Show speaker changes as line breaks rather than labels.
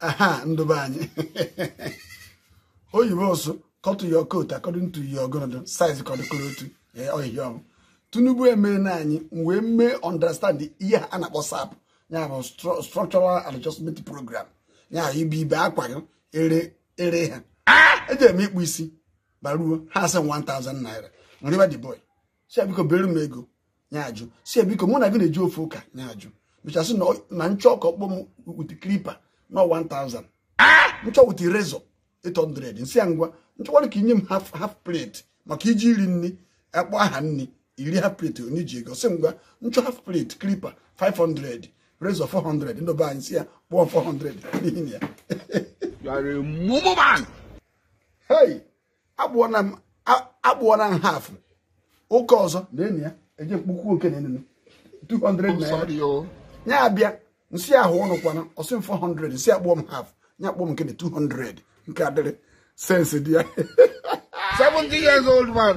aha ndị be anyị oyibo sị cut your coat according to your ogologo size ka ọ dị ka otu ihe ọma Tinubu mere na anyị wee mee understand ihe a na-akpọ SAP ya bụ structural adjustment program ya bụ ịbe akwa gị ere ere ha eje m ịkpụ isi baruo ha asị 1000 naira m rịọba the boy sị ya biko bere m ego ya ajụ sị ya biko mụ na gị na-eje ofu ụka ya ajụ mechaa sị na m chọọ ka ọ kpụọ m with clipper na 1000 m chọọ with razor 800 m sị ya ngwa m chọkwara ka i nye m half plate maka i jee iri nri a kpọọ aha nri i rie half plate onye ji ego sị ngwa m chọọ half plate clipper 500 razor 400 ndị be anyị m sị ya kpụọ 400 n'ihi ya akpụọla m a- akpụọla m half ụka ọzọ na enyi ya eje m kpụkwuo nke na enunu 200 I'm naira sorry, oh. ya abịa m sị ya ahụ ọnụ kwanụ ọ sị m 400 m sị ya kpụọ m half ya akpụọ m nke na 200 nke adịrị sense dị ya 70 years old man.